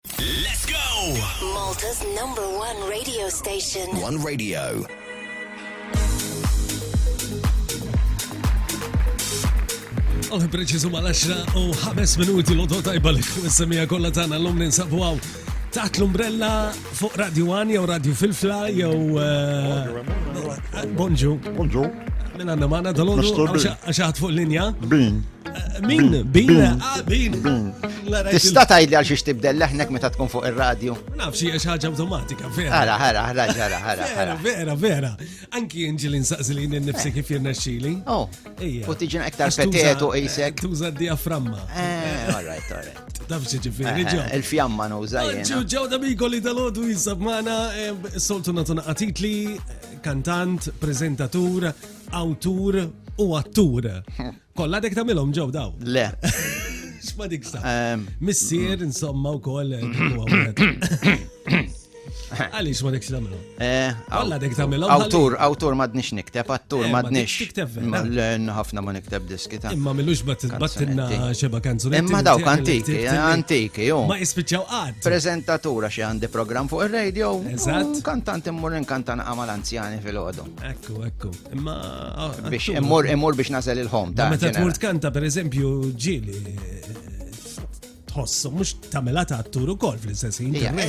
Let's go! Malta's number one radio station. One radio. Għal preċizu ma l-10 u 5 minuti l-odot tajba li kum semija kolla tana l-lum ninsabu għaw taħt l-umbrella fuq Radio 1 jew Radio Filfla jew eh, Bonġu. Bonġu. Mela għanna maħna dal-ħodu għaxaħt fuq linja. Bin. Min, bin, ah, bin. Tista tajli għal xiex tibdel leħnek meta tkun fuq il-radju? Nafxi għax ħaġa automatika, vera. Ħara, ħara, ħara, ħara, ħara. Vera, vera, vera. Anki inġil insaqsi li nifsi kif jirna xili. Oh, u tiġin aktar petetu isek. Tuża diaframma. Eh, all right, all right. Tafxi ġifiri, ġo. Il-fjamma nuża jena. Ġo, ġo, da mi kolli dal-ħodu jisab maħna, eh, soltu natuna għatitli, kantant, prezentatur, autur, u għattur. Kolla dek tamilom ġew daw. Le. X'ma dik sa. Ehm, Missier insomma wkoll eh, huwa wieħed. Għaliex ma dekx tagħmilhom. eh, Kolla dek tagħmilhom. Awtur, awtur madnix nikteb, attur Eh, ma madnix. tix tikteb vera. Ma- le, ħafna ma nikteb diski ta' Imma millux battinna Kanzunetti. xeba kanzunetti. Imma dawk tiegħek li antiki, ktibt illi antiki, jo. Ma jispiċċaw qatt. Prezentatura xi għandi programm fuq ir-radio. Eżatt. u Kantant immur inkantan għamal anzjani fil-ħodu. Ekku, ekku. Imma. Biex immur, immur biex nasel il-ħom. Ta' meta tmur tkanta, per eżempju, ġili. Tħossu, mux tamela ta' attur u kol fl-istess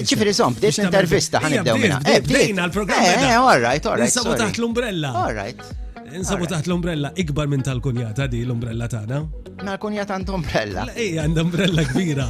ċifri zom, bdiet intervista ħan id-dew minna. Eh, bdejna l-programm. Eh, eh all right, all right. Nsabu taħt l-umbrella. All right. Nsabu taħt l-umbrella, ikbar minn tal-kunjata di l-umbrella tagħna. Ma l-kunjata għand umbrella. Ej, għand umbrella kbira.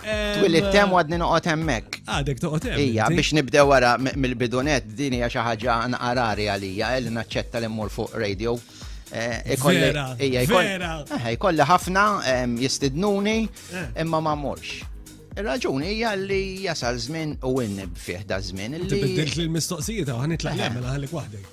Twilit tem għadni noqgħod hemmhekk. Għadek toqgħod hemm. Ija, biex nibdew wara mill-bidunet din hija xi ħaġa nqarari għalija eh, li naċċetta li mmur fuq radio. Eh, ikolli ħafna jistidnuni eh. imma ma morx. Il-raġuni hija li jasal żmien u winnib fih da żmien. Tibdilx li l-mistoqsijiet għan itlaq jagħmel għalik waħdek.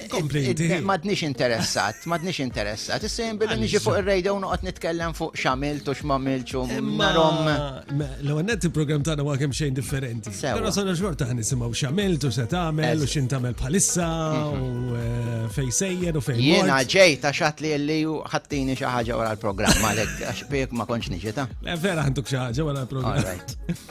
Kompli. Madnix interessat, madnix interessat. Issa jien billi niġi fuq ir-radio noqgħod nitkellem fuq x'għamilt u x'mamilx u marom. L-ewwel net il-programm tagħna huwa kemm xejn differenti. Però sona xorta ħan nisimgħu x'għamilt u se tagħmel u x'in tagħmel bħalissa mhm. u eh, fejn sejjer u fejn. Jiena ġej ta' xat li li ħattini xi ħaġa wara l-programm għalhekk għax bik ma kontx niġi ta'. Vera ħantuk xi ħaġa wara l-programm.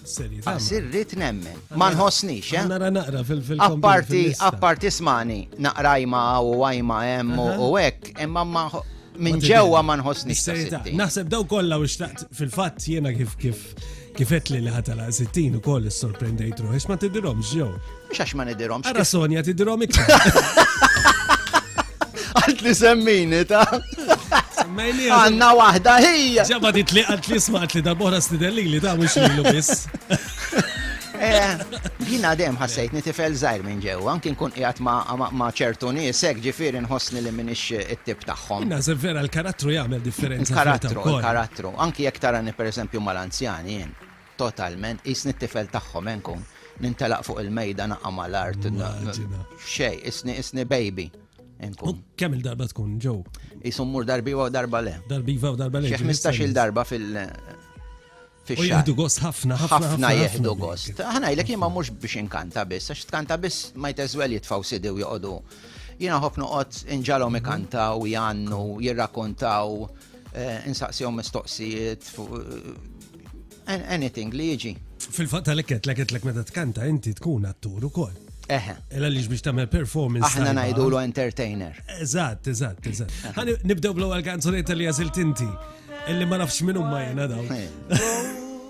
Għas irrit nemmen. Ma nħossnix, eh? Nara naqra fil-fil. Apparti, apparti smani, naqra jma u għajma hemm u hekk, imma ma minn ġewwa ma nħossnix. Naħseb daw kollha u xtaqt fil-fatt jiena kif kif kifet li li ħatala 60 u koll sorprendejt ruħi, ma tidirhom ġew. Mhux għax ma nidirhomx. Ara Sonja tidirhom iktar. Għalt li semmini ta' Semmejni għanna waħda hija. Ġabba dit li għalt li smaqt li darbora stidelli li ta' mux li l-bis. Eh, jina dem ħassajt nitifel zaħir minn ġew, anki nkun qiegħed ma' ċertu nisek ġifieri nħossni li minix it-tip tagħhom. Nażel vera l-karattru jagħmel differenza. Karattru, karattru. Anki jekk tarani pereżempju mal-anzjani jien. Totalment, qisni t-tifel tagħhom, he nkun, nintelaq fuq il-mejda naqa' mal-art, xejn, qisni qisni baby, he nkun. Kemm il-darba tkun ġew? Qisu mmur darbiva u darba le. Darbiva u darba le. Xi ħmistax-il darba fil- U jieħdu gost ħafna, ħafna. Ħafna jieħdu gost. Aħna jlek jien ma mhux biex inkanta biss, għax tkanta biss ma jteżwel jitfaw sidi u joqogħdu. Jiena ħobb noqgħod inġalhom ikantaw, jgħannu, jirrakontaw. Eh, insaqsihom mistoqsijiet fuq eh, anything li jiġi. Fil-fatt tal-ekket, l-ekket l-ek meta tkanta, inti tkun attur u koll. Eħe. Ela li biex tamel performance. Aħna najdu l entertainer. Eżatt, eżatt, eżatt. Għani nibdew bl-ewwel kanzunetta li għażilt inti. Illi ma nafx minn umma jena daw.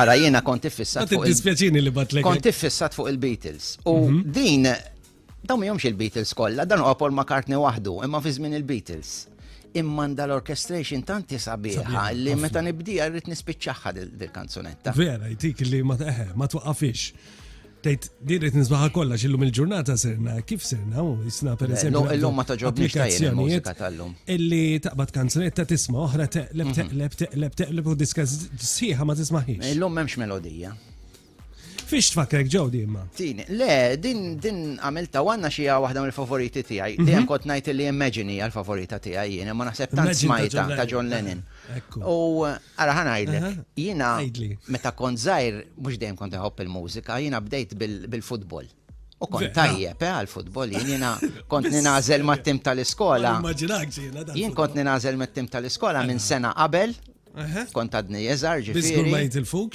Ara jiena kont iffissat. Għad id-dispjaċini li batlek. Kont iffissat fuq il-Beatles. U mhm. din, dawn mi jomx il-Beatles kollha, dan huwa Paul McCartney waħdu, imma fi żmien il-Beatles imman dal-orchestration tanti sabiħa li meta nibdija rrit nispiċċaħħa dil-kanzunetta. Vera, jtik li ma eh, twaqafix. Tejt, din qed nisbaħa kollha x'illum il-ġurnata serna, kif serna u jisna per eżempju. Illum ma toġobniex applikazzjonijiet tal-lum. Illi taqbad kanzunetta tisma' oħra teqleb mhm. teqleb teqleb teqleb u diska sħiħa ma tismaħiex. Illum m'hemmx melodija. Fiex tfakrek ġew di imma? Din, le, din din għamilta għanna xi waħda mill-favoriti tiegħi. Mhm. Dejjem kont ngħid li Imagine hija l-favorita tiegħi jien, ma naħseb tant smajta ta' John Lennon. U għara ħan għajdlek, jina meta kont zaħir, mux dejjem kont għob il-mużika, jina bdejt bil-futbol. U kont tajjeb eh, għal-futbol, jina kont ninazel ma' tim tal-iskola. Jien kont ninazel ma' tim tal-iskola minn sena qabel, kont għadni jeżar ġifiri.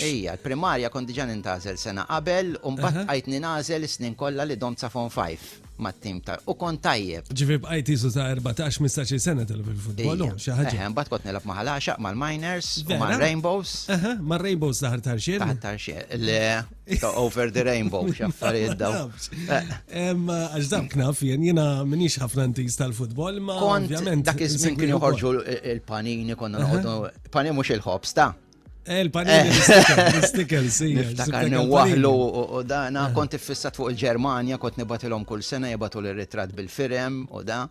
Ija, l-primarja kont diġan nintazel sena qabel, un bat għajt ninazel snin kolla li dom ta' fon 5. mat-tim ta' u kont tajjeb. Ġifieri bqajt isu ta' 14 15 sena tilgħab il-futbol, xi ħaġa. Eħe, mbagħad kont nilgħab ma' ħalaxaq mal-miners u mar-rainbows. Eħe, mar-rainbows ta' ħar tarxien. Ta' ħar tarxien. Le, ta' over the rainbow, xaffarijiet daw. Għax dam knaf jien, jiena minix ħafna ntis tal-futbol, ma' ovvjament. Dak iż-żmien kien joħorġu il-panini konna noqogħdu. Panini mhux il-ħobs ta' Eh, Il-panini l-istikel, si. Niftakar newahlu u dana, eh. kont iffissat fuq il-Ġermanja, kont nibatilhom kull sena jibatu l-ritrat bil-firem u da.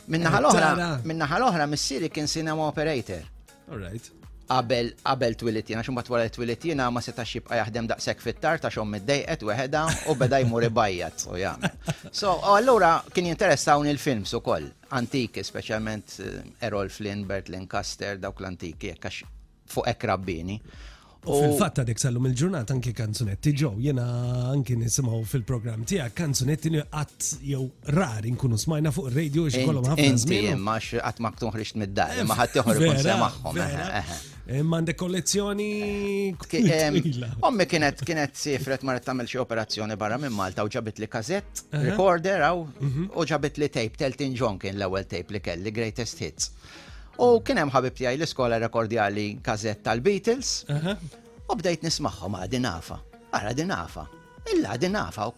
Minnaħa eh, l-oħra, minnaħa l-oħra, missieri kien cinema operator. All right qabel qabel twilit jiena xumbat wara twilit jiena ma setax jibqa' jaħdem daqshekk fit-tar ta' xom middejqet weħeda u beda jmur ibajjat u jagħmel. So allura kien jinteressawni l-films ukoll. antiki, speċjalment eh, Errol Flynn, Bert Lancaster, dawk l-antiki, jekk għax fuq hekk rabbini. U fil-fatt għadek sallum il-ġurnat anki kanzunetti ġew, jena anki nisimgħu fil-programm tiegħek kanzunetti li qatt jew rari nkunu smajna fuq ir-radio xi kollhom ħafna Inti żmien. imma għax qatt ma tkun ħriġt mid-dar, imma ħadd joħor ikun Vera, semaħħom. vera. eħe, eħe. Eh, Mande kollezzjoni. Ommi kienet kienet sifret marret tagħmel xi operazzjoni barra minn Malta u ġabit li kazett, recorder għaw, mhm. u ġabit li tape, Teltin John kien l-ewwel tape li kelli, Greatest Hits. U kien hemm ħabib tiegħi l-iskola rekordjali kazett tal-Beatles. U bdejt nismagħhom għadi nafa. Ara din nafa. Illa din nafa u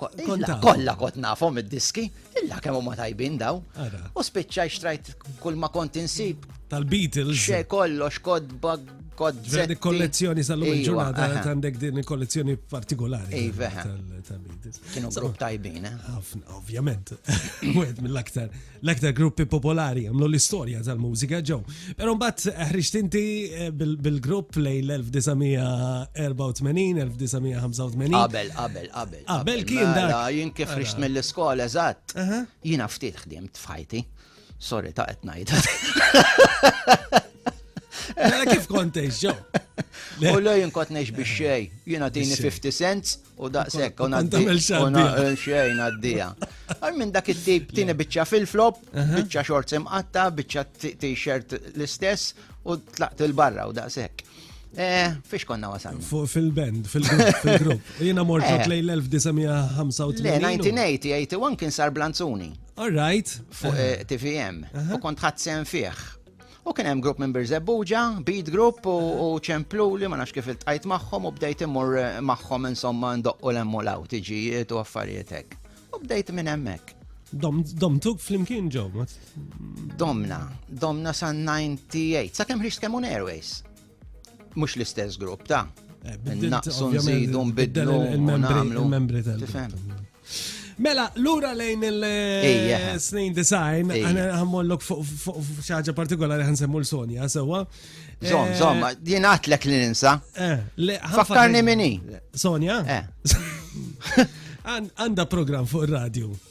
kolla kot nafhom id-diski, illa kemm huma tajbin daw. U spiċċa xtrajt kull ma kont insib. Tal-Beatles. Xe kollox kodba kodzetti. kollezzjoni sal-lum iva, il-ġurnata għandek din il-kollezzjoni partikolari. Iva. Kienu grupp tajbin, eh? Ovvjament. Wieħed mill-aktar l-aktar gruppi popolari għamlu l-istorja tal-mużika ġew. Pero mbagħad ħriġt inti eh, bil-grupp lej l-1984-1985. Qabel, qabel, qabel. Qabel kien mela, dak. Jien kif ħriġt mill-iskola eżatt. Jiena ftit ħdimt f'ħajti. Sorry ta' qed ngħid. Mela kif kont tgħix ġew? U lejn kont ngħix bix-xejn. Jiena tini 50 cents U daqshekk u nagħmel xejn għaddija. Għal minn dak it-tip tieni biċċa fil-flop, biċċa xort imqatta, biċċa t-shirt l-istess u tlaqt il-barra u daqshekk. Eh, fiex konna wasan? Fil-band, fil-grupp. Jina mortu eh. tlejl 1985. Le, 1981 kien sar Blanzuni. All right. Fuq eh. TVM. U kont ħadsen fieħ. U kien hemm grupp minn Birżebbuġa, Beat Group u ċempluli ma nafx kif iltqajt magħhom u bdejt immur magħhom insomma ndoqqu lemmu law tiġijiet u affarijiet hekk. U bdejt minn hemmhekk. Domtuk flimkien ġew. Domna, domna sa 98, sa kemm ħriġt Kemun Airways. Mhux l-istess grupp ta' eh, naqsu nżidu nbidlu il-membri tal-grupp. Mela, lura lejn il-snin design, għana għammollok fuq xaġa partikolari għan semmu l-Sonja, sewa. Zom, eh, zom, jien għatlek li ninsa. Eh, Fakkarni minni. Sonja? Eh. Għanda program fuq il-radio.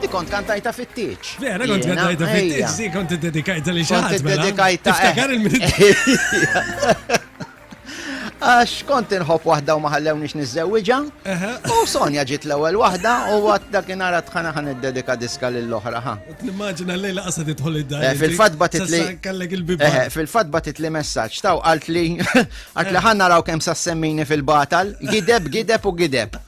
Di kont kantajta fit-tieġ. Vera kont kantajta fit-tieġ, di kont dedikajta li xaħat. Kont mela. dedikajta. Tiftakar eh. il-minut. Għax kont inħobb waħda u maħallew nix nizzewġa. U Sonja ġiet l-ewwel waħda u għat dakinhar għad ħana ħan id-dedika diska lill-oħra ħa. Nimmaġina lejla qasad idħol id-dar. Eh, fil-fatt batit li. Eh, fil-fatt batit li messaġġ taw qalt li għat li ħanna raw kemm sassemmini fil-batal, gideb, gideb u gideb.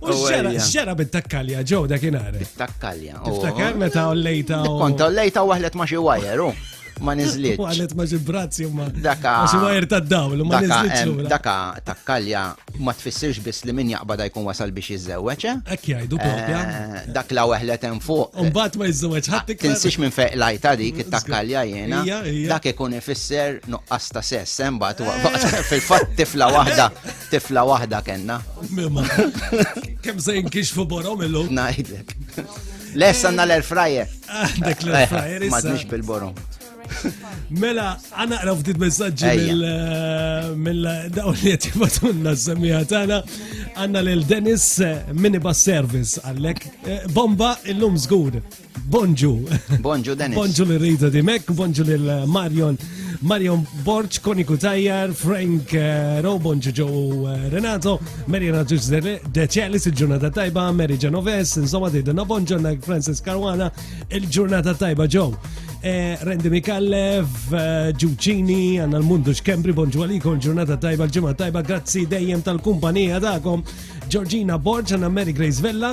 U xġera bit-takkalja ġew dak inhar. Takkalja. Tiftakar meta ollejta. Konta ollejta waħlet ma xi wajer, u ma nizliet. Waħlet ma xi brazzi ma. Daka. Xi wajer tad-dawl ma nizliet. Daka takkalja ma tfissirx biss li min jaqbada jkun wasal biex jiżżewweġ. Eh? Hekk jgħidu propja. Eh, dak la waħlet hemm fuq. Imbagħad ma jiżżewweġ ħadd iktar. Tinsix minn fejq lajta dik it-takkalja jiena. Dak ikun ifisser nuqqas ta' sess, eh, imbagħad fil-fatt tifla waħda Tifla waħda kenna. Mimma. Kem se jinkixfu borom illum. Najdek. Lessa għanna l-air fryer. Ah, dak l-air fryer. Madnix bil-borom. Mela, għana għraf ftit messagġi eh, mill-dawn li għet jibatunna s-semija tana. Għanna l-Dennis eh, Minibus Service għallek. Eh, bomba il-lum zgur. Bonġu. Bonġu Dennis. Bonġu li rridu di mek, bonġu li Marion. Marion Borċ, Koniku Tajjar, Frank eh, Ro, bonġu ġo eh, Renato, Mary Raġus Deċelis, il-ġurnata tajba, Mary Genoves, insomma didna bonġu na Francis Caruana, il-ġurnata tajba ġo. Eh, Rendi Mikallev, Ġuċini, għanna l-mundu xkembri, bonġu għalikom, ġurnata tajba, l-ġimma tajba, grazzi dejjem tal-kumpanija dakom, Giorgina Borġ, għanna Mary Grace Vella,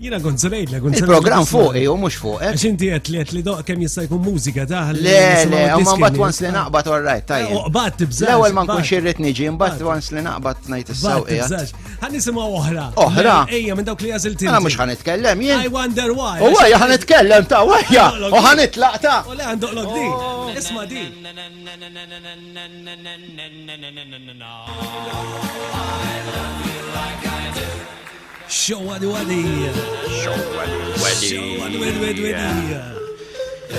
Jina kont se ngħidlek, kont se Il-programm fuq jew mhux fuq. eh? Għax inti qed li qed li doq kemm jista' jkun mużika taħ. Le, le, imma mbagħad once li naqbad all right, tajjeb. Uqbad tibżax. L-ewwel ma nkunx irrid niġi, mbagħad once li naqbad ngħid is-sewqiegħat. Ħan nisimgħu oħra. Oħra? Ejja minn dawk li għażilt Għana mhux ħan itkellem jien. I wonder why. U għajja ħan itkellem ta' għajja. U ħan itlaq ta'. U le għandok lok di. Oh. Isma' di. I love you like I do. Show għal wadija. Show għal wadija. Show għal wadija.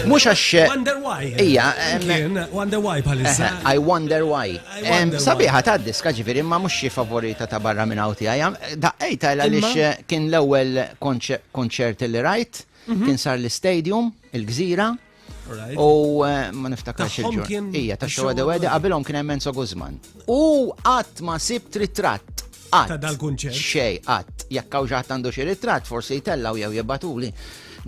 Mux għax. Eh, wonder why. Ija. Wonder why bħalissa. Eh, I wonder why. Sabiħa ta' diska ġifiri ma mux xie favorita ta' barra minn għawti għajam. Daqqej ta' l eh, kien l-ewel konċert li rajt. Mhm. Kien sar l-stadium, il-gżira. U eh, ma niftakarx il-ġurnata. Ija, ta' xogħol għadu għadu qabilhom kien hemm Enzo Guzman. U qatt ma sib ritratt. Ta' dal-kunċert. Xej, qatt. Jekk hawn ġatt għandu xi ritratt, forsi jtellaw jew jibbatuli.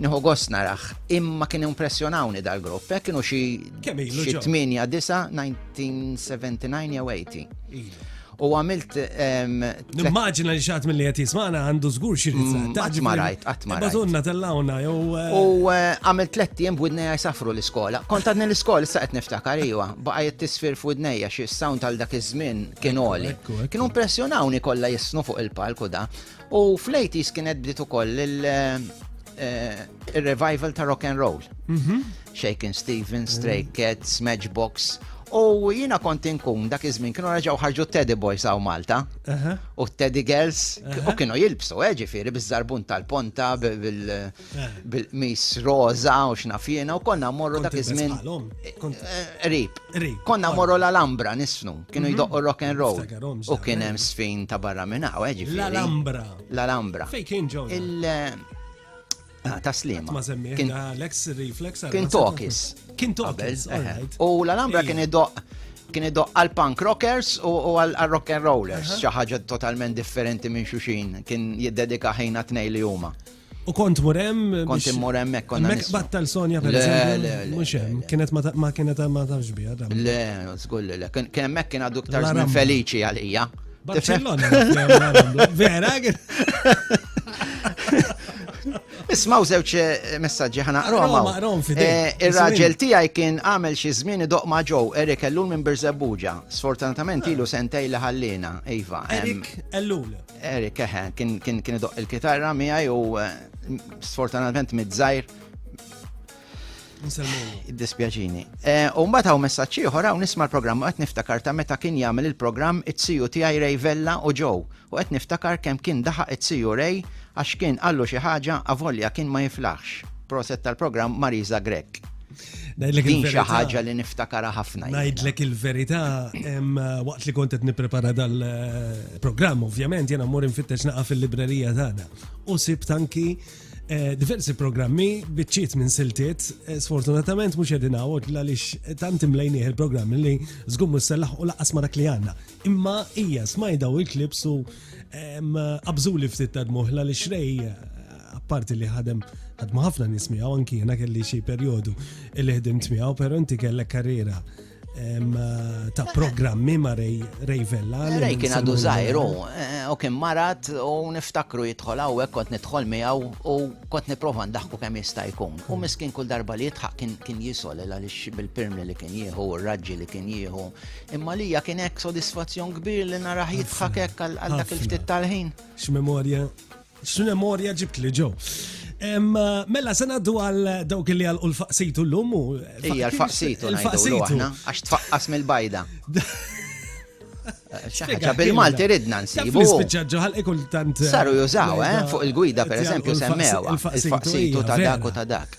Nieħu gost narax. Imma kien impressjonawni dal-grupp. Hekk kienu xi 8 9 1979 jew 80. U għamilt. Nimmaġina li xaħat mill-li għet jismana għandu zgur xirritza. Mm, qatt ma rajt, qatt ma rajt. Batunna tellawna, jew. Eh, u eh, għamilt tletti jem b'widneja jisafru l-iskola. Kont għadni l-iskola, issa qed niftakar iwa. Baqa jett tisfir f'widneja xie sound għal dak iż-żmien kien oli. Kienu impressjonawni kollha jisnu fuq il-palku da. U fl-80s kienet bdiet ukoll il-revival eh, ta' rock and roll. Mhm. Shaken Stevens, Stray mm. Cats, Matchbox. U jina kont inkun dak iż-żmien kienu raġaw ħarġu Teddy Boys għaw Malta. U Teddy Girls u kienu jilbsu, eh, ġifieri biż-żarbun tal-ponta bil- bil-qmis roza u xnafjena u konna morru dak iż-żmien. Eh, rib. Konna morru l-Alambra nisnu, kienu mhm. jdoqqu rock and roll. U kien hemm sfin ta' barra minn hawn, eh, ġifieri. L-Alambra. L-Alambra. Fej kien ġew. Il- eh, ah, ta' slima. Ma semmiħ, Alex Reflex. Kien Tokis. Kien Tokis. U l-Alambra kien idoq kien idoq għal punk rockers u għal rock and rollers, xi ħaġa totalment differenti minn xuxin, kien jiddedika ħina tnej li huma. U kont mur hemm. Kont immur hemmhekk konna. Hemmhekk battal Sonja per eżempju. Mhux hemm, kienet ma kienet ma tafx biha. Le, żgur le. Kien hemmhekk kien għadu ktar żmien feliċi għalija. Barcellona. Vera? Ismaw żewġ eh, messaġġi ħana qroma. Eh, ir-raġel tiegħi kien għamel xi żmien idoq ma' ġew Erik Ellul minn Birżebbuġa. Sfortunatament ilu sentej li ħallina, Iva. Erik Ellul. Eric, eħe, kien idoqq il-kitarra miegħi u sfortunatament mid-żgħir. Dispjaċini. U mbagħad hawn messaġġ ieħor hawn nisma' l-programm qed niftakar ta' meta kien jagħmel il-programm it-siju tiegħi Ray Vella u ġew u qed niftakar kemm kien daħaq it-siju Ray għax kien qallu xi ħaġa avolja kien ma jiflaħx. Proset tal-programm Marisa Grech. Din xi ħaġa li niftakara ħafna. Ngħidlek il-verità waqt li kont qed nipprepara dal-programm, ovvjament jiena mmur infittex naqa' fil-librerija tagħna. U sib tanki eh, diversi programmi biċċiet minn siltiet, eh, sfortunatament mhux qegħdin hawn għaliex tant imlejnieh il-programm li żgur mhux sellaħ u laqas ma dak li għandna. Imma hija smajda u l-klips u qabżuli ftit ta' dmuħla li xrej apparti li ħadem ħadmu ħafna nies miegħu anki jiena kelli xi perjodu li ħdimt miegħu, però inti kellek karriera ta' programmi ma' Rej Vella. Rej kien għadu zaħiru, eh, u kien marat u niftakru jitħol għawek kont nitħol miegħu u kont niprofa ndaħku kemm jista' jkun. U miskin kull darba li jitħaq kien jisol għaliex bil-pirmi li kien jieħu, u raġġi li kien jieħu, Imma lija kien hekk sodisfazzjon kbir li narah jidħak hekk għal dak il-ftit tal-ħin. X'memorja, x'memorja ġibt li ġew. Mela, sena du għal dawk li għal l-faqsitu l-lum u. Ija, l-faqsitu, l-faqsitu. Għax tfaqqas mill-bajda. ċaħġa bil-Malti ridna nsibu. Spiċċaġġaħal ikul tant. Saru jużaw, eh, fuq il-gwida, per eżempju, semmewa. Il-faqsitu ta' dak u ta' dak.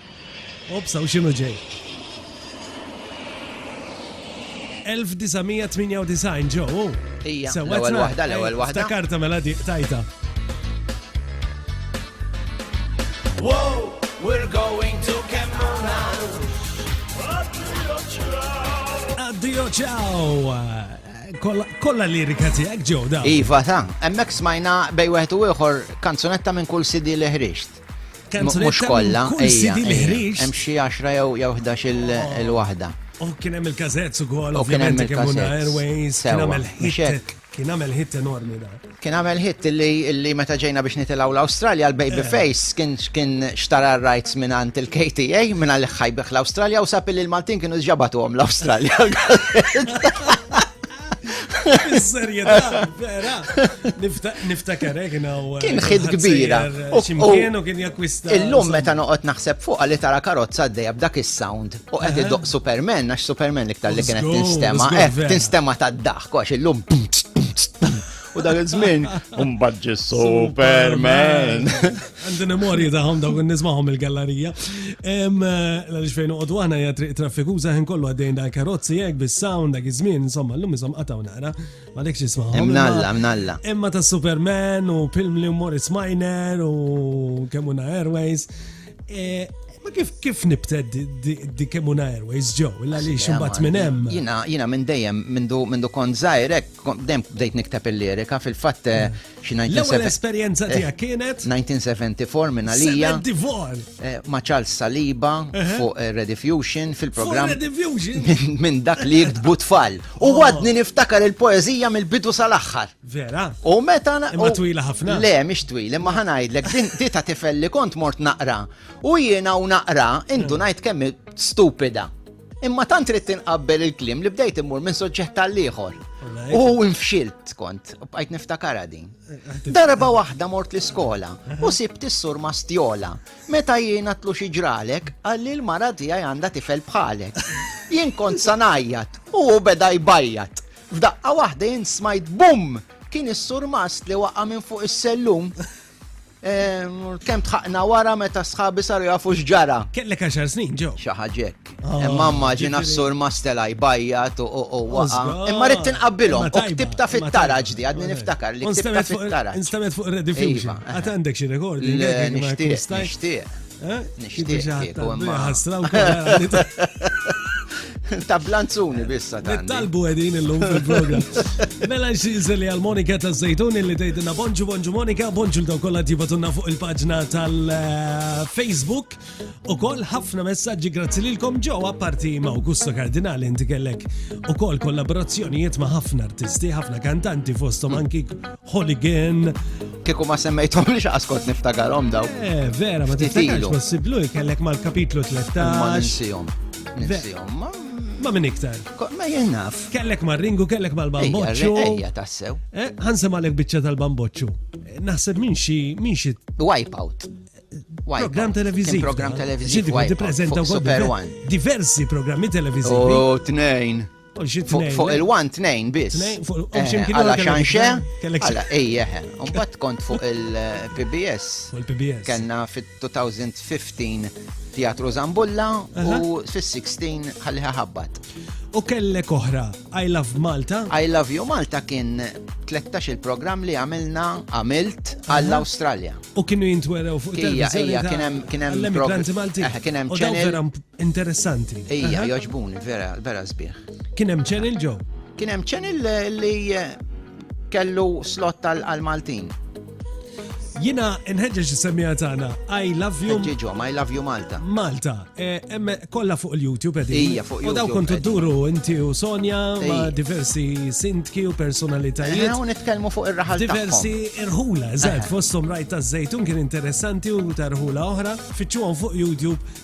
Obsa u xinu ġej. 1998 ġo. Ija, l-ewwel waħda, l-ewwel waħda. Takarta mela di tajta. Wow, we're going to Kemmuna. Addio ciao. Kolla lirika tiegħek ġew da. Iva ta, hemmhekk smajna bej wieħed u ieħor kanzunetta minn kull sidi li ħriġt. Mux kolla, ejja, hemm xi 10 jew 11 il-waħda. U oh, kien hemm il-kazett ukoll, ovvjament kien hemm Airways, kien hemm il-hit. Kien għamel hit enormi da. Kien għamel hit li meta ġejna biex nitilaw l-Australja, l-Baby eh. Face kien kien xtara rights minn għant il-KTA, minn għal ħajbeħ l-Australja u sapi li l-Maltin kienu ġabatu għom l-Australja. Serjetà, vera. Niftakar eh, kien eh, Kien ħid kbira. Eh, Ximkien u kien jakwista. Illum meta noqgħod naħseb fuq li tara karozza għaddejja b'dak is-sound u qed idoq Superman għax Superman iktar li kienet tinstema. Tinstema tad-daħk għax illum U dak iż-żmien mbagħad ġi Superman. Għandi memorji tagħhom dawk nismahom il-gallerija. Hemm eh, għaliex fejn noqogħdu aħna hija triq traffikuża ħin kollu għaddejn dal karozzi hekk bis-sound dak iż-żmien insomma llum isom qataw nara. Ma dekx ismahom. Hemm nalla, hemm nalla. Imma ta' Superman u Pilmli u Morris Miner u Kemuna Airways. Eh, ma kif kif nibted di Kemuna Airways ġew, illa li ximbat minn hemm. Jina, jina minn dejjem, minn du kont zaħirek, dejjem bdejt nikteb il-lirika, fil-fatt eh, hmm. xi 1970. l esperjenza eh, tiegħek kienet? 1974 minn għalija. Ma Charles Saliba fuq Rediffusion fil-programm. Minn dak li jiktbu tfal. U għadni niftakar il-poezija mill-bidu sal-aħħar. Vera? U meta na. Imma twila ħafna. Le, mhix twil, imma ħanajdlek, din tita tifel li kont mort naqra. U jiena u naqra, indu ngħid kemm stupida. Imma tant trid tinqabbel il-klim li bdejt immur minn soġġett għall-ieħor. U nfxilt kont, bqajt niftakara din. Darba waħda mort l-iskola u sibt is-sur mastjola. Meta jiena tlu xi ġralek, għalli l-mara tiegħi għandha tifel bħalek. Jien kont sanajjat u beda jbajjat. F'daqqa waħda jien smajt bum! Kien is-surmast li waqa' minn fuq is-sellum. Ehm, Kemm tħaqna wara meta sħabi saru jafu x'ġara. Kellek għaxar snin ġew. Xi ħaġek. Ah, Imma immaġina ġifieri- s-surmast tela' jbajjat u u- u waqa'. Osga. Imma rrid tinqabbilhom. Imma U tajba, ktibta imma fit-taraġ tajba. di, għadni niftakar li U ktibta nstamet fuq- fit-taraġ. Nstamet fuq Red Diffusion. Iva. Għad għandek xi rekordi. Le, nixtieq, nixtieq. Nixtieq ta' blanzuni bissa ta' Nittalbu edin illum fil-program. Mela xinżel li għal-Monika ta' Zejtun li tgħidilna bonġu bonġu Monika, bonġu l-daw kollha tibatunna fuq il-paġna tal-Facebook. U koll ħafna messaġġi grazzi lilkom ġewwa parti ma' Augusto Kardinali inti kellek ukoll kollaborazzjonijiet ma' ħafna artisti, ħafna kantanti fosthom anki Holy Gen. Kiku ma semmejtom li xaqskot niftagarom daw. Eh, vera, ma tiftakarx possiblu jkellek mal-kapitlu 13. Ma ninsijom. Ninsijom, ma. Ma minn iktar. Ma jennaf. Kellek ma ringu, kellek ma l-bamboċċu. Ejja, tassew. Eh, ħansem għalek bicċa tal-bamboċċu. Eh, naħseb minn xi, minn xi. Wipeout. Program televiziv. Program televiziv. Ġidi, prezenta Super One. Diversi programmi televizivi. U oh, tnejn. Fuq il-1 tnejn biss. Għala xanxe, għala ejjeħ. Umbat kont fuq il-PBS. Kenna fit-2015 Teatru Zambulla u fis-16 ħalliħa ħabbat. U kellek oħra, I Love Malta? I Love You Malta kien 13 il-programm li għamilna għamilt għall-Australja. U kienu jintwerew fuq il-televizjoni. Kien hemm kien hemm kien hemm channel. Interessanti. Ija, joġbuni, vera, vera sbieħ. Kien hemm ċenil ġo? Kien hemm ċenil li eh, kellu slot tal-Maltin. Jina nħedġeġ semija tagħna I love you. Ġiġom, I love you Malta. Malta. E, emme kollha fuq il-YouTube qegħdin. Ija fuq YouTube. U daw kontu duru inti u Sonja ma' diversi sintki u personalitajiet. Eh, u nitkellmu fuq ir-raħal Diversi irħula, eżatt, eh. fosthom rajt taż-żejtun kien interessanti u tarħula oħra. Fittxuhom fuq YouTube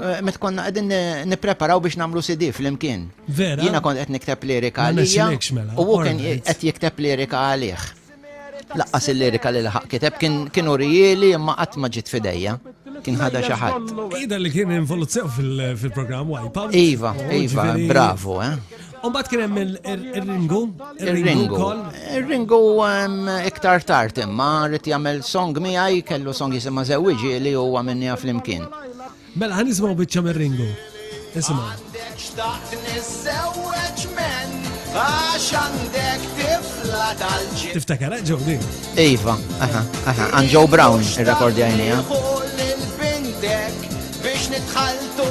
Eh, met konna għedin nipreparaw biex namlu CD fl-imkien. Vera. Jina kont għed nikteb lirika għalija. Mela. U għukin għed jikteb lirika għalih. Laqqas il-lirika li laħaq kiteb kien urijili imma qatt ma ġit fidejja. Kien ħada xaħat. Ida li kien involuzzjaw fil-program Wipeout. Iva, oh, Iva, bravo, eh. Umbat kien hemm il-ringu, il-ringu Il-ringu iktar tard imma rrid jagħmel song miegħi kellu song jisimha żewwiġi li huwa minnija flimkien. Mela ħan nisimgħu biċċa mir-ringu. Isimgħu. Għandek xtaqt niżewweġ men għax għandek tifla tal ġi Tiftakar eh, ġewdi? Iva, aha, aha, għan Joe Brown ir-rekordja jnija. Biex nitħaltu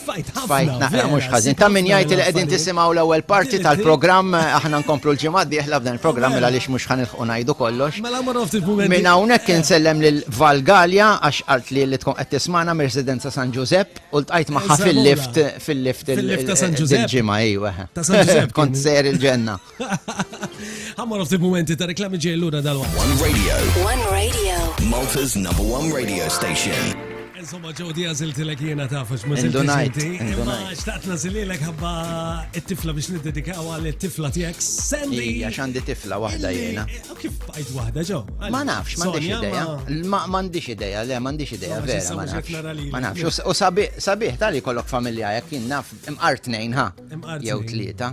Tfajt ħafna. Eh, mhux ħażin. Ta' min jgħid li qegħdin tisimgħu l-ewwel parti tal-programm eh, aħna nkomplu l-ġimgħa d-dieħla f'dan il-programm mela għaliex mhux ħanilħu ngħidu kollox. Mela mara ftit mument. Minn hawnhekk insellem lil Valgalja għax qalt li li tkun qed tismana mir-residenza San Ġużepp u ltqajt magħha fil-lift fil-lift il-ġimgħa ejwa. Kont ser il-ġenna. Għamma ftit momenti ta' reklami ġej l-lura dal One Radio. One Radio. Malta's number one radio station. Insomma, ġew di għaziltilek jena tafax, ma ziltilek. Imma xtaqt nazililek ħabba it-tifla biex niddedikaw għal it-tifla tijak. Sandy. Ija, xandi tifla wahda jena. Eh, kif bajt wahda ġo? Ma nafx, ma nafx ideja. Ma nafx ideja, le, ma nafx ideja, vera, ma nafx. Ma nafx, u sabiħ, tali kollok familja jek jien naf, imqar tnejn, ha? Jew tlieta.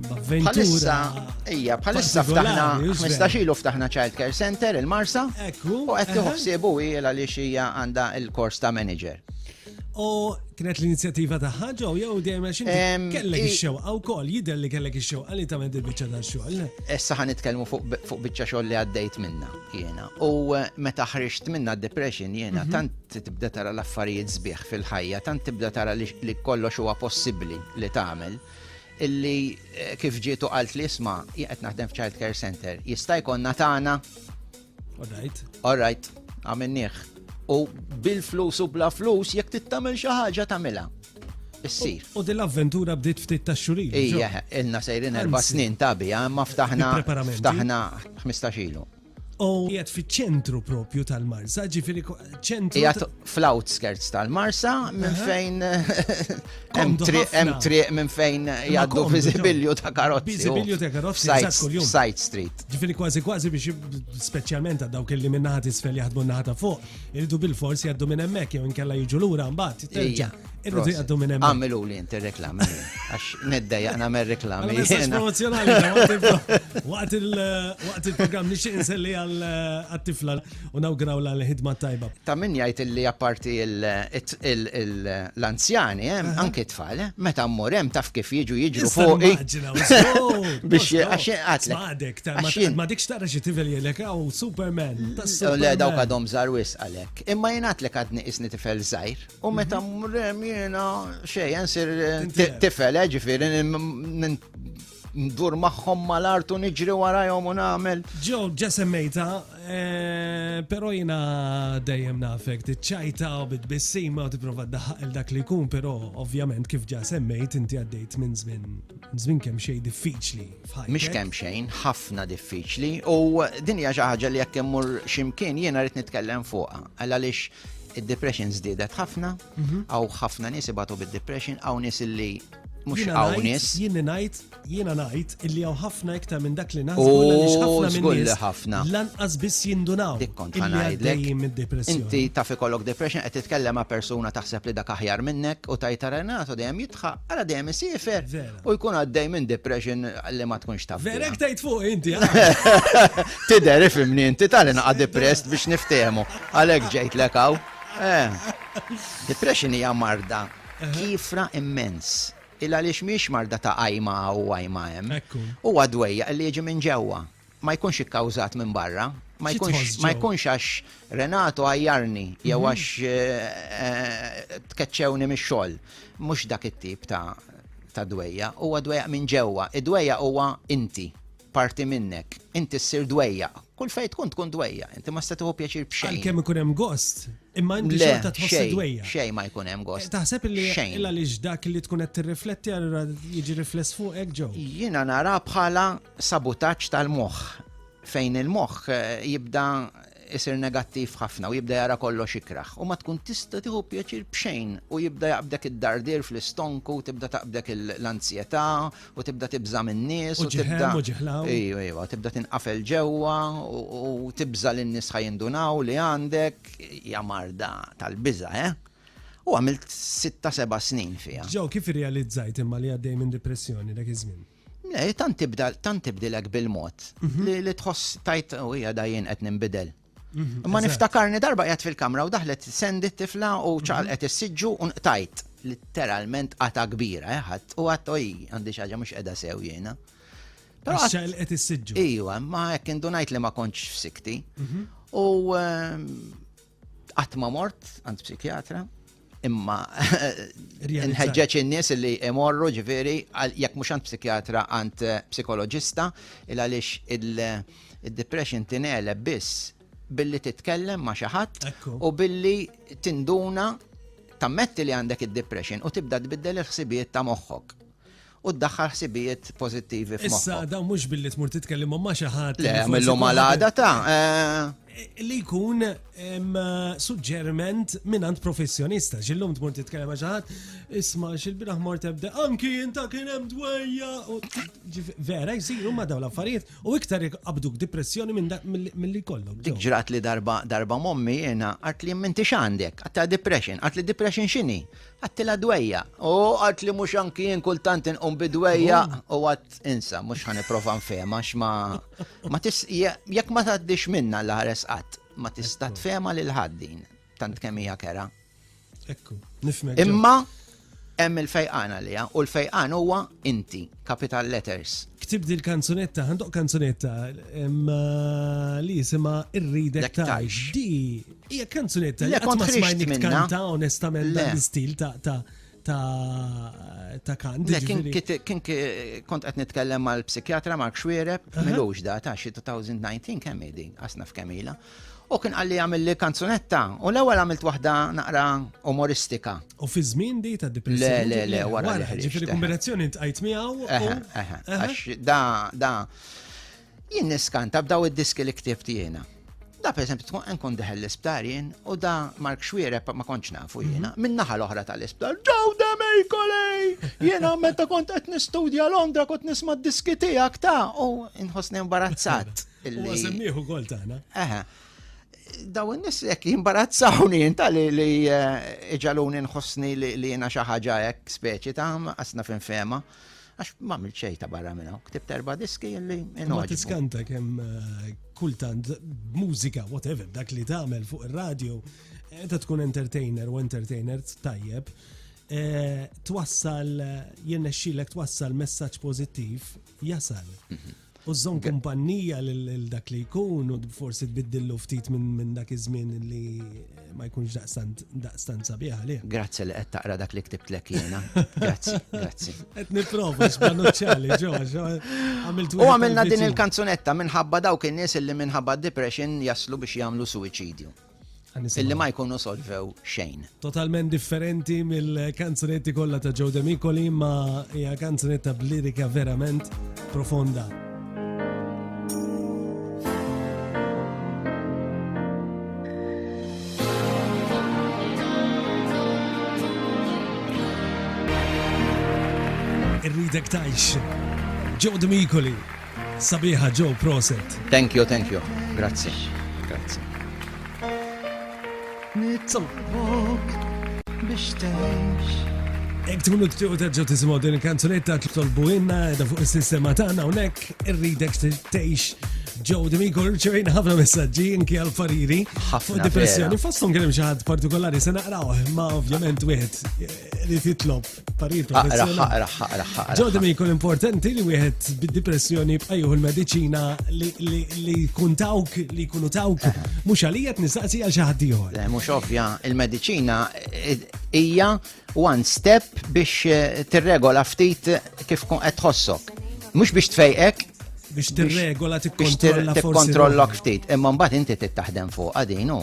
Bħalissa, ija, bħalissa ftaħna, 15 ilu ftaħna Child Care Center il-Marsa, u qed tiħossiebu ila li xija għandha il-kors ta' manager. U kienet l-inizjattiva ta' ħaġa u jew dejjem għax kellek ix-xewqa wkoll jidher li kellek ix-xewqa li tagħmel il-biċċa ta' xogħol. Issa ħan nitkellmu fuq biċċa xogħol li għaddejt minna jiena. U eh, meta ħriġt minna depression jiena mhm. tant tibda tara l-affarijiet sbieħ fil-ħajja, tant tibda tara li kollox huwa possibbli li tagħmel. illi kif ġietu qalt li isma' qed naħdem f'Child Care Center, jista' jkollna tagħna. Alright. Alright, għamilnieh. U bil-flus u bla flus jekk tittamel xi ħaġa tagħmilha. Issir. U din l-avventura bdiet ftit ta' xurin. Ija, ilna sejrin erba' snin ta' bija, imma ftaħna ftaħna 15 ilu. U jgħat fi ċentru propju tal-Marsa, ġifiri ċentru. Jgħat fl-outskirts tal-Marsa, minn fejn. Hemm triq minn fejn jgħaddu viżibilju ta' karozzi. Viżibilju ta' karozzi. Side street. Ġifiri kważi kważi biex speċjalment għad dawk li minnaħat isfel jaħdmu naħat fuq, irridu bil-fors jgħaddu minn hemmhekk jew inkella jiġu lura mbagħad. Irridu jgħaddu minn hemm. Għamilu li inti reklami. Għax nedda jaqna mer reklami. Promozjonali, waqt il-program nixi inselli għal-tifla eh, u nawgraw l-ħidma tajba. Ta' min jgħid li apparti l-anzjani, eh, anke tfal, eh, meta mmur hemm taf kif jiġu jiġru fuq. Biex għax għatlek. Ma dikx tara xi tifel jgħidlek għaw Superman. Le dawk għadhom żarwis għalek. Imma jgħatlek għadni isni tifel żgħir. U meta mrem jena xej, nsir eh, tifel, eh, ġifiri, ndur maħħom mal-art u niġri warajhom u nagħmel. Ġo, ġesemmejta, eh, pero jina dejjem nafek, tiċċajta u bitbissima u tipprova daħaq il-dak li jkun, pero ovvjament kif ġa semmejt inti għaddejt minn żmien żmien kemm xejn diffiċli. Mhix kemm xejn, ħafna diffiċli u din hija xi ħaġa li jekk immur ximkien jiena rrid nitkellem fuqha. Għaliex Id-depression żdiedet ħafna, mhm. għaw ħafna nies ibatu bid-depression, għaw nies illi mux għawnis. Jien najt, jiena najt, illi għaw ħafna iktar minn dak li naħsbu li ħafna minn ħafna. Lanqas biss jindunaw. Dikkont ħanajdlek. Inti taf ikollok depression qed titkellem ma' persuna taħseb li dak aħjar minnek u tajta renatu dejjem jitħaq, għala dejjem isifer u jkun għaddej minn depression li ma tkunx taf. Verek tajt fuq inti. Tider ifimni inti tal-inqa depressed biex niftehmu. Għalhekk ġejtlek hawn. Depression hija marda kiefra immens. Il-għaliex mhijiex marda ta' għajma hawn u għajma hemm. Huwa dwejjaq li jiġi minn ġewwa. Ma jkunx ikkawżat minn barra. Ma jkunx għax Renato għajjarni jew għax tkeċċewni mix-xogħol. Mhux dak it-tip ta' dwejjaq. Huwa dwejjaq minn ġewwa. Id-dwejjaq huwa inti. parti minnek, inti ssir dwejjaq. Kull fejn tkun tkun dwejjaq, inti ma tista' tieħu pjaċir b'xejn. Għalkemm ikun hemm gost, imma inti xorta tħossek dwejjaq. Xejn ma jkun hemm gost. Taħseb li illa li dak li tkun qed tirrifletti allura jiġi rifless fuqek ġew. Jiena nara bħala sabutaġġ tal-moħħ fejn il-moħħ eh, jibda isir negattiv ħafna u jibda jara kollox ikrah u ma tkun tista' tieħu pjaċir b'xejn u jibda jaqbdek id-dardir fl-istonku u tibda taqbdek l-anzjetà u tibda tibża' min-nies u tibda ejwa ejwa tibda tinqafel ġewwa u tibża' li n-nies ħa jindunaw li għandek hija marda tal-biża' eh! U għamilt sitta seba' snin fiha. Joe, kif irrealizzajt imma li għaddej minn dipressjoni dak iż-żmien? Le, tant tibda, tant tibdilek bil-mod mhm. li li tħoss tajt u hija dajjien qed ninbidel. Mhm, Ma niftakarni darba qed fil-kamra u daħlet sendi tifla u mhm. ċaqalqet is-siġġu u nqtajt literalment qata kbira eh, ħadd u għadd oj għandi xi ħaġa mhux qiegħda sew jiena. Però qed is-siġġu. Ejwa, ma hekk indunajt li ma kontx f'sikti. U ehm, Qatt ma mort għand psikjatra, imma nħeġġeġ in-nies li imorru ġifieri jekk mhux għand psikjatra għand eh, psikoloġista il għaliex il-depression tineleb biss billi titkellem ma' xi ħadd u billi tinduna tammetti li għandek id-depression u tibda tbiddel il-ħsibijiet ta' moħħok. u ddaħħal ħsibijiet pożittivi f'moħħok. Issa dan mhux billi tmur titkellem ma' xi ħadd. Le, mill-lum għal għada ta' li jkun suġġerment minant professjonista. Xillum tmur titkellem ġaħat, isma xil-biraħ mor tebda, anki jinta kien hemm dwejja. Vera, jisiru ma daw l-affarijiet u iktar abduk depressjoni mill-li kollok. Dik ġrat li darba darba mommi jena għat li minti xandek, għatta depression, għat li depression xini. Għattilha dwejja. U għat li mhux anki jien kultant inqum bi dwejja u għat insa mhux ħan nipprova nfehma x'ma ma tis jekk ma tgħaddix minna l-ħares qatt ma tista' tfehma lil ħaddin tant kemm hija kera. Ekku, nifmek. Imma hemm il-fejqan għalija u l-fejqan huwa inti, capital letters. Ktib dil kanzunetta, għandok kanzunetta li jisima irridek tajx. Di Hija kanzunetta li qatt ma smajnik tkanta onestament dan l-istil ta' ta' ta' kant. Kien kont qed nitkellem mal-psikjatra Mark Xwiereb, milux da ta' xi 2019 kemm din, asna f'kemila. U kien għalli għamil li kanzunetta, u l-ewwel għamilt waħda naqra umoristika. U fi żmien di ta' depressjoni. Le, le, le, wara. Ġifieri kombinazzjoni tqajt miegħu. Għax da, da, Jien niskanta b'daw id-diski li ktibt jiena. Da per esempio tkun nkun deħel l-isptar jien u da Mark Xwiereb ma kontx nafu jiena. Mhm. Min-naħa l-oħra tal-isptar, ġew demej kolej! Jiena meta kont qed nistudja Londra kont nisma' d-diski tiegħek ta' u nħossni imbarazzat. Huwa semmiħu gol tagħna. Eħe. Daw in-nies jekk jimbarazzawni inta li eh, iġaluni nħossni li jiena xi ħaġa hekk speċi ta' qasna f'infema. fema. Għax ma għamilt xejn ta' barra minn hawn, ktibt erba' diski li inogħġbu. Ma tiskanta kemm eh, kultant mużika, whatever, dak li tagħmel fuq ir-radju, eh, ta' tkun entertainer u entertainer tajjeb, eh, twassal jirnexxilek twassal messaġġ pożittiv jasal. Mhm. U żżomm kumpannija lil dak li jkun u forsi tbiddillu ftit minn dak iż-żmien li eh, ma jkunx daqstant sabiħ għalih. Grazzi li qed taqra dak li ktibtlek jiena. Grazzi, grazzi. Qed nipprova x'banuċċali ġo għamilt U għamilna din il-kanzunetta minħabba dawk in-nies li minħabba depression jaslu biex jagħmlu suwiċidju. illi ma jkunu solvew xejn. Totalment differenti mill-kanzunetti kollha ta' Joe Demicoli ma hija kanzunetta b'lirika verament profonda. Irridek tajx. Joe Demicoli. Sabiħa Joe proset. Thank you, thank you. Grazzi. Grazzi. Nitolbok biex tgħix. Ek tkunu ttiqu terġgħu tisimgħu din il-kanzunetta titolbu inna edha fuq is-sistema tagħna hawnhekk irridek tgħix Joe D'Amico rċevejna ħafna messaġġi inki għal fariri fuq depressjoni. Fosthom kien hemm xi ħadd partikolari se naqrawh ma ovvjament wieħed eh, li titlob Paritu, aqra, aqra, aqra, aqra. Ġodda mi jkun importanti li wieħed bid-depressjoni bqajju l-medicina li kun tawk, li kunu tawk, eh. mux għalijat nistaqsi għal xaħat diħor. Le, mux ovvja, il-medicina eh, hija one step biex eh, tirregola ftit kif kun qed tħossok. Mux biex tfejqek, biex tirregola tikkontrolla tikkontrollok ftit. Imma mbagħad inti tittaħdem fuq din u.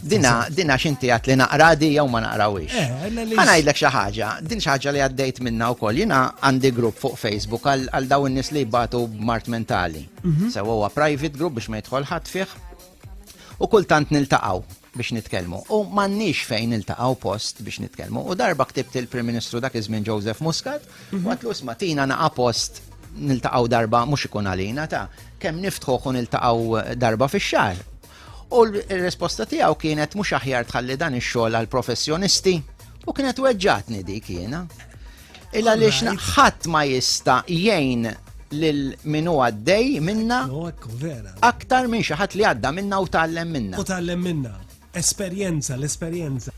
Dina dina x'inti għat li naqra di jew ma naqrawix. Eh, Ħana ngħidlek xi ħaġa, din xi ħaġa li għaddejt minna wkoll jiena għandi grupp fuq Facebook għal daw in-nies li jbatu b'mart mentali. Mhm. Sewa huwa private group biex ma jidħol ħadd fih. U kultant niltaqgħu biex nitkellmu u m'għandniex fejn niltaqgħu post biex nitkellmu. U darba ktibt il-Prim Ministru dak iż-żmien Joseph Muscat, mhm. għatlu isma' tina naqa' post niltaqgħu darba mhux ikun għalina ta' kemm niftħu u niltaqgħu darba fix-xahar. U l-risposta tiegħu kienet mhux aħjar tħalli dan ix-xogħol għall professjonisti u kienet weġġatni dik jiena. Il għaliex ħadd ma jista' jgħin lil min huwa għaddej minna aktar minn xi ħadd li għadda minna u tgħallem minna. U tgħallem minna. Esperjenza, l-esperjenza.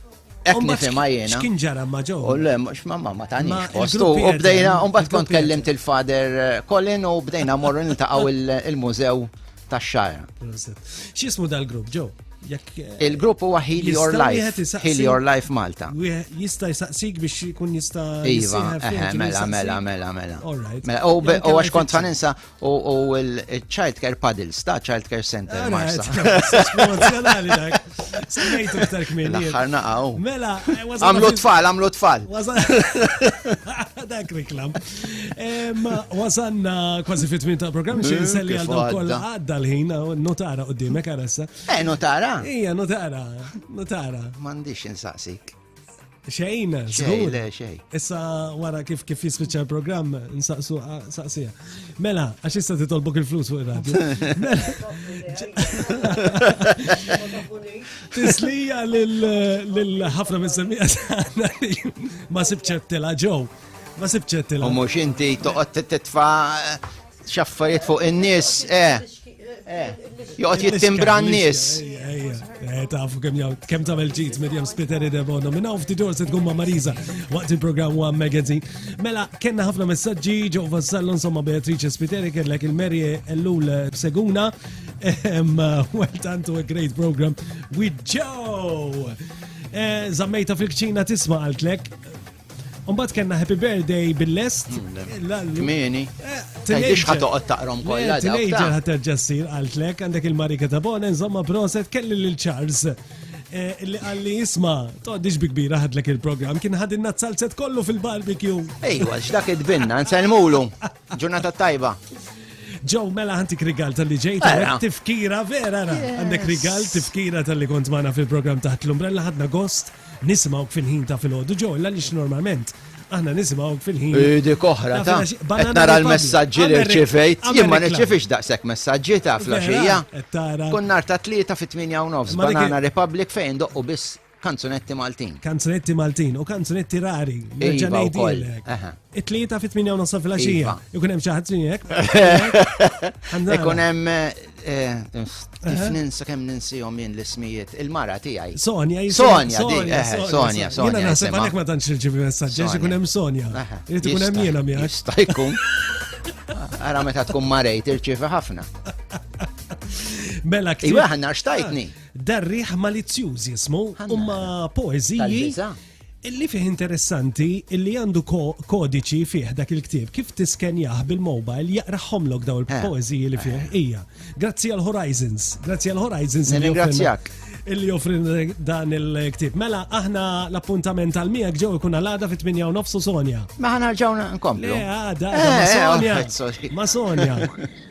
Ek nifima jena. X'kien ġara ma ġo? U le, mux ma ma ma tani. U bdejna, un bat kont kellimt il-fader eh, Colin u bdejna morru niltaqaw il-mużew tax-xagħar. X'ismu dal-grupp ġew? Eh, Il-grupp huwa Heal Your Life. Heal Your Life Malta. Jista' jsaqsik biex jkun jista' Iva, eh, mela, mela, mela, mela. Mela, u għax kont faninsa u l-Child Care Paddles ta' Child Care Center Marsa. Semmejtu iktar kmini. L-aħħar naqaw. Mela, eh, għamlu tfal, għamlu tfal. Dak reklam. Wasanna kważi fit min ta' program xejn mm, selli għal daw kollha għadda l-ħin notara qudiemek għaressa. Eh, notara? Ija, notara. Notara. M'għandix insaqsik. Xejn, żgur. Issa wara kif kif jispiċċa l-programm nsaqsu saqsija. Mela, għax issa titolbok il-flus fuq ir-radju. Tislija lil ħafna mis-semija ma sibċettela ġew. Ma sibċettela. U mhux inti toqgħod titfa' xaffariet fuq in-nies, eh. Eh, joqgħod jittimbra n-nies. Eh, tafu kemm jgħid kemm tagħmel ġid Medium Splitter idebona. Minn hawn ftit se tkun ma' Marisa waqt il-programm One Magazine. Mela kellna ħafna messaġġi ġew vassallu insomma Beatrice Spiteri kellek il-Meri Ellul Seguna. Ehm, well done to a great program with Joe. Eh, zammejta fil-kċina tisma' għaltlek Umbat kena happy birthday bil-lest. Kmini. Eh, Tajdix ħatoqot taqrom kolla. Teenager ħaterġa s-sir għaltlek, għandek il-marika ta' bona, nżomma proset, kelli l-Charles. Eh, li għalli jisma, toqdix bi kbira ħadlek il-program, kien ħadin nazzalzet kollu fil-barbecue. Ejwa, x'dak id-binna, nselmulu. Ġurnata tajba. Ġo, mela għantik rigal tal-li ġejt, tifkira vera, għandek rigal tifkira tal-li kont maħna fil-program taħt l-umbrella ħadna gost. Nisimgħuk fil-ħin ta' filgħodu ġol għaliex normalment aħna nisimgħuk fil-ħin. Dik oħra ta' qed nara l-messaġġi li rċivejt, jien ma nirċivix daqshekk messaġġi ta' flaxija. Kun nar ta' tlieta fit-8 u nofs Banana Republic fejn doqqu biss kanzunetti Maltin. Kanzunetti Maltin u kanzunetti rari. Iva, It-tlieta fit tminja u nofsa fil-għaxija. Iva. Ikun hemm xi ħadd hekk. Ikun hemm eh, kif ninsa kemm ninsihom jien l-ismijiet il-mara tiegħi. Sonja, Sonja, Sonja, eh, Sonja. Jiena naħseb għalhekk ma tantx irċivi messaġġi ikun hemm Sonja. Irid ikun hemm jiena miegħek. Jista' jkun. Ara meta tkun marejt irċivi ħafna. Mela kif. Iwa ħanna xtajtni. Ah, Darriħ malizzjuż jismu, umma poeziji. Illi fih interessanti illi għandu kodiċi fih dak il-ktieb kif tiskenjah bil-mobile jaqraħomlok daw il-poeziji li fih hija. Grazzi għal Horizons, grazzi għal Horizons. Ringrazzjak. Illi joffrin dan il-ktieb. Mela aħna l-appuntament għal miegħek ġew ikun għal-għada fit-8 nofsu Sonja. Ma ħana ġawna nkomplu. Għada, ma Sonja. Ma Sonja.